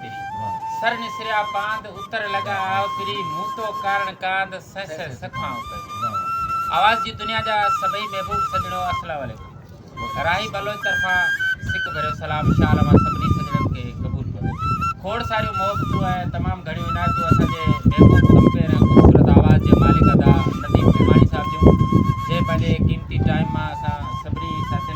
سر نسريا پاند اتر لڳا آء پري مون تو ڪارڻ ڪاند سهه سهه سکائون پئي آواز جي دنيا جا سڀئي محبوب سڄڻو السلام عليڪم راهي بلوچ طرفان سڪ ڀريو سلام شال اوهان سڀني سڄڻن کي قبول ڪرو کوڙ ساريون محبتون ۽ تمام گهڻيون عنايتون اسان جي محبوب ڪمپير ۽ خوبصورت آواز جي مالڪ ادا نديم ڀيماڻي صاحب جون جنهن پنهنجي قيمتي ٽائيم مان اسان سڀني ساٿين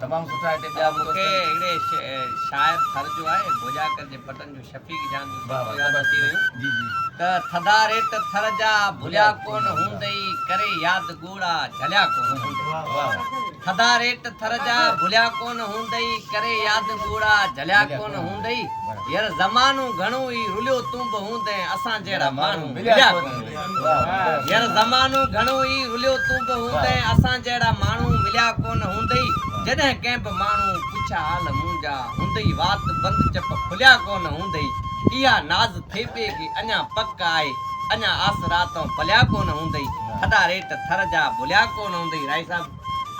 تمام سٺا هتي ٻيا به مونکي اهڙي شاعر ٿر جو آهي ڀوڄاڪر جي پٽن جو شفيق جان جون بيتون ياد اچي ويون جي جي ته ٿڌا ريٽ ٿر جا ڀليا ڪون هوندئي ڪري ياد ڳوڙها جهليا ڪون هوندئي ٿڌا ريٽ ٿر جا ڀليا ڪون هوندئي ڪري ياد ڳوڙها جهليا ڪون هوندئي ير زمانو گهڻو ئي رليو تون به هوندئين اسان جهڙا ماڻهو مليا ڪون ير زمانو گهڻو ئي رليو تون به هوندين اسان جهڙا ماڻهو مليا ڪونه هوندئي جڏهن ڪنهن به ماڻهو پڇا حال منهنجا هوندئي وات بند چپ کليا ڪونه هوندئي اها ناز ٿيٻي کي اڃا پڪ آهي اڃا آسرا تون پليا ڪونه هوندئي ٿڏا ريٽ ٿر جا ڀليا ڪونه هوندئي رائي صاحب